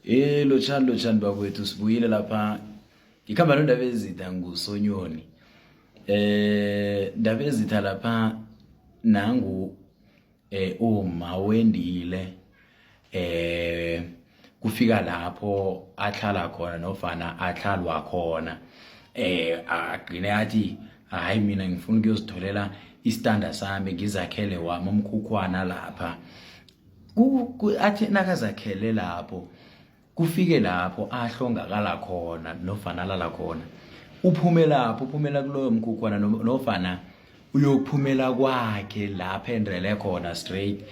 Eh lotshani lotshani bakwethu sibuyile lapha ngikhamba nondaba ezitha ngusonyoni eh ndaba ezitha lapha nangu eh uma wendile eh kufika lapho ahlala khona nofana ahlalwa khona eh agcine athi hayi mina ngifuna ukuyozitholela istanda sami ngizakhele wami umkhukhwana lapha athi nakazakhele lapho kufike lapho ahlongakala khona nofana alala khona uphume lapho uphumela kuloyo mkhukhwana nofana uyokuphumela kwakhe lapha endrele khona straight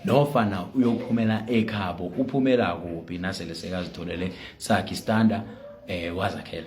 nofana uyokuphumela ekhabo uphumela kuphi nasele sekazitholele sakhe istanda um wazakhela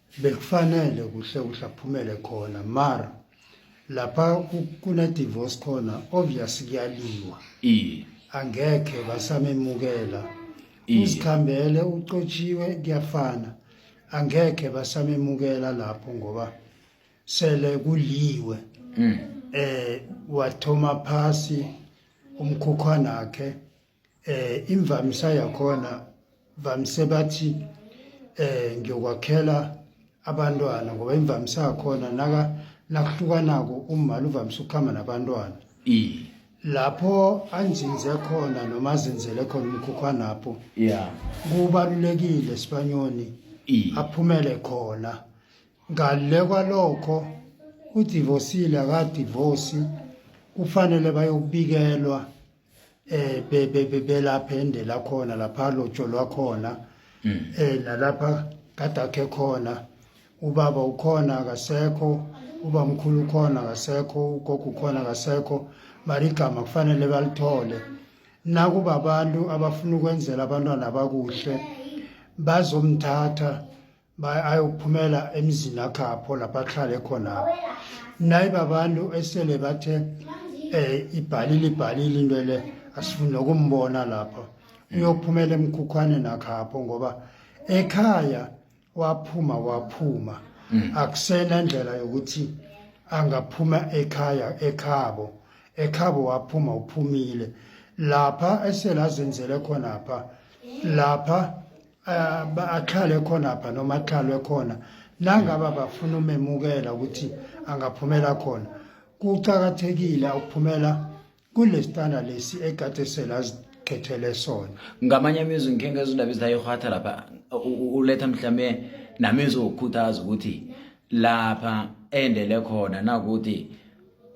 bekufanele kuhle kuhle aphumele khona mara lapha kuna divorce khona obvious kuyaliwa iye angekhe basamemukela uzikhambele ucotshiwe kuyafana angekhe basamemukela lapho ngoba sele kuliwe mm. eh wathoma phasi umkhukhwana wakhe eh imvamisa yakhona vamise bathi eh ngiyokwakhela abantwana ngoba imvamisa yakhona naka nakuhlukanako umali uvamise ukuhamba nabantwana i lapho anzinze khona noma azenzele khona umkhukhwanapho yeah kubalulekile sibanyoni aphumele khona ngale kwalokho udivosile akadivosi kufanele bayokubikelwa eh belapha ende lakhona lapha lotsho lwakhona hmm. eh nalapha kadakhe khona ubaba ukhona akasekho ubamkhulu ukhona akasekho ugogo ukhona akasekho mari igama kufanele balithole nakuba abantu abafuna ukwenzela abantwana bakuhle bazomthatha ayophumela emizini akhapho lapha ahlale khona naye babantu esele bathe eh ibhalile ibhalile into le asifuni nokumbona lapha uyophumela emkhukhwane nakhapho ngoba ekhaya waphuma waphuma mm. akusena ndlela yokuthi angaphuma ekhaya ekhabo ekhabo waphuma uphumile lapha esela zenzele khona lapha lapha ahlale khonapha noma ahlalwe khona nangaba bafuna umemukela ukuthi angaphumela khona kucakathekile ukuphumela kulesitana lesi egatesela azikhethele sona ngamanye amizwi ngikhe ngezindaba ezidayihwatha lapha uletha mhlawumbe namizwi wokukhuthaza ukuthi lapha endele khona nakuthi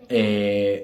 eh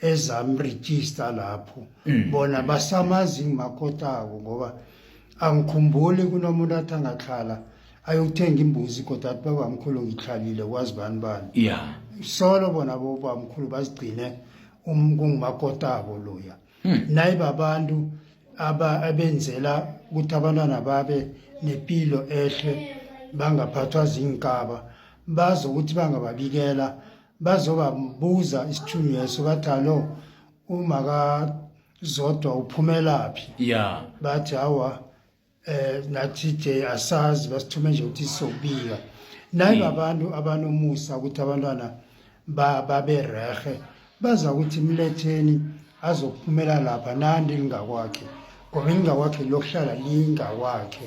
ezamregister lapho mm. bona basamazi ngimakhotako ngoba angikhumbuli kunomuntu athi angahlala ayokuthenga imbuzi kodwa athi babamkhulu ngihlalile kwazi bani bani yeah. solo bona bobamkhulu bazigcine um, kungumakotabo loya hmm. naye babantu abenzela ukuthi abantwana babe nempilo ehle bangaphathwa zinkaba bazi ukuthi bangababikela bazobabuza isithunyweso bathi alo uma kazodwa uphumelaphi ya bathi hawa eh nathi nje asazi basithume nje ukuthi sizobika nayi hmm. abantu abanomusa ukuthi abantwana babe rehe baza ukuthi mletheni azophumela lapha nandi lingakwakhe ngoba lingakwakhe lokuhlala lingakwakhe